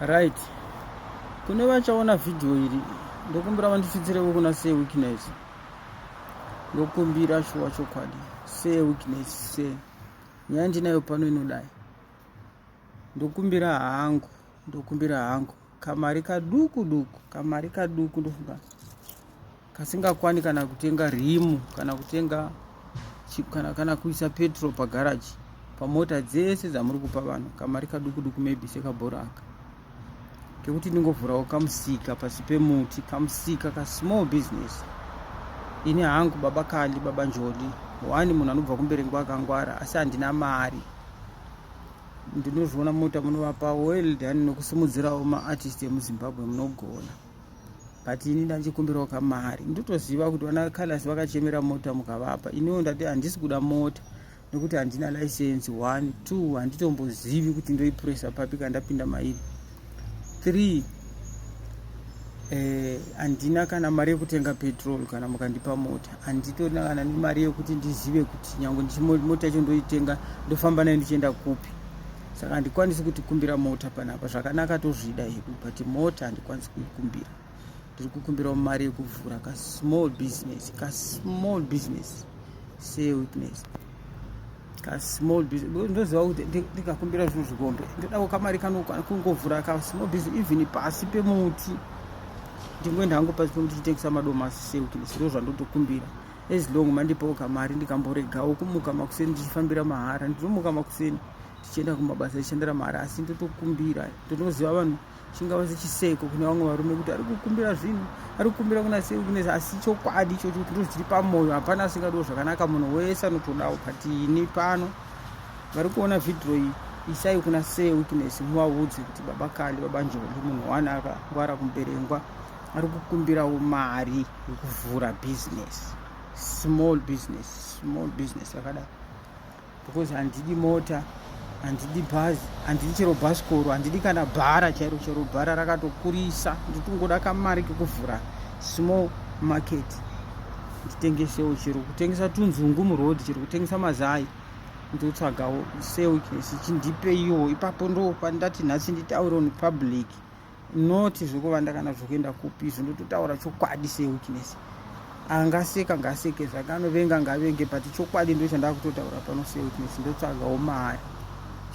right kune vachaona vhidhiyo iri ndokumbira vandisvitsireko kuna se weakness ndokumbira shuwa chokwadi se weakness se nyaya ndinayo pano inodai ndokumbira hangu ndokumbira hangu kamari kaduku duku kamari kaduku ndofunga kasingakwani kana kutenga rimu kana kutenga kana, kana kuisa petrol pagaraji pamota dzese dzamuri kupa vanhu kamari kaduku duku maybe sekabhora aka kekuti ndingovhurawo kamusika pasi pemuti kamusika kasmall business ini hangu baba kali baba njodi wani munhu anobva kumberengwa akangwara asi handina mari ndinozviona mota munovapa well dani nokusimudzirawo maartist emuzimbabwe munogona but ini ndanjikumbirawo kamari ndotoziva kuti vana callas vakachemera mota mukavapa iniwo ndati handisi kuda mota nekuti handina license one two handitombozivi kuti ndoipuresa papi kandapinda mairi three eh, handina eh, kana mari yekutenga petrol kana mukandipa mota handitorina kana nemari yekuti ndizive kuti nyange mota yacho ndoitenga ndofamba nayo ndichienda kupi saka handikwanisi kuti kumbira mota panapa zvakanaka tozvida hedu but mota handikwanisi kuikumbira ndiri kukumbirawo mari yekuvhura ka small business ka small business say witness ka small business ndoziva kuti ndikakumbira zvinhu zvikombe ndodawo kamari kanokwana kungovhura ka small business even pasi pemuti ndingoenda hangu pasi pemuti chitengesa madomasi say witness ndo zvandotokumbira as long mandipawo kamari ndikamboregawo kumuka makuseni ndichifambira mahara ndinomuka makuseni tichienda kumabasa tichishandira mahara asi ndotokumbira ndotoziva vanhu chingava sechiseko kune vamwe varume kuti ari kukumbira zvinhu ari kukumbira kuna sei kune asi chokwadi ichocho kuti ndo chiri pamwoyo hapana asingadiwo zvakanaka munhu wese anotodawo but ini pano vari kuona vhidhiro iyi isai kuna sei witness muvaudze kuti baba kali baba njombi munhu wani akangwara kumuberengwa ari kukumbirawo mari yekuvhura business small business small business yakadaro because handidi mota handidi bhazi handidi chero bhasikoro handidi kana bhara chairo chero bhara rakatokurisa ndikungoda kamari kekuvhura small market nditengesewo chero kutengesa tunzungu muroad chero kutengesa mazai ndotsvagawo seo chichindipeyiwo ipapo ndo pandati nhasi nditaure on public not zvekuvanda kana zvekuenda kupi izvo ndototaura chokwadi sewikness angaseka ngaseke zvake anovenga ngavenge but chokwadi ndo chandaa kutotaura pano sewikness ndotsvagawo mari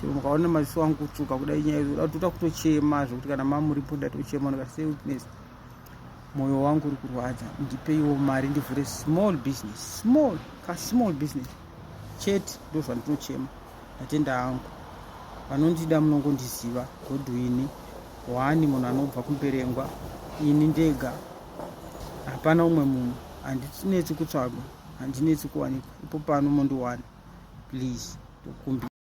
chero mukaona maziso angu kutsvuka kudai nyaya izo datoda kutochema zvekuti kana mamuripo ndatochema ndikati sewikness mwoyo wangu uri kurwadza ndipeiwo mari ndivhure small business small ka small business chete ndozvandinochema ndatenda hangu vanondida munongondiziva godwini wani munhu anobva kumberengwa ini ndega hapana umwe munhu handinetsi kutsvagwa handinetsi kuwanikwa ipo pano mondiwana please tokumbira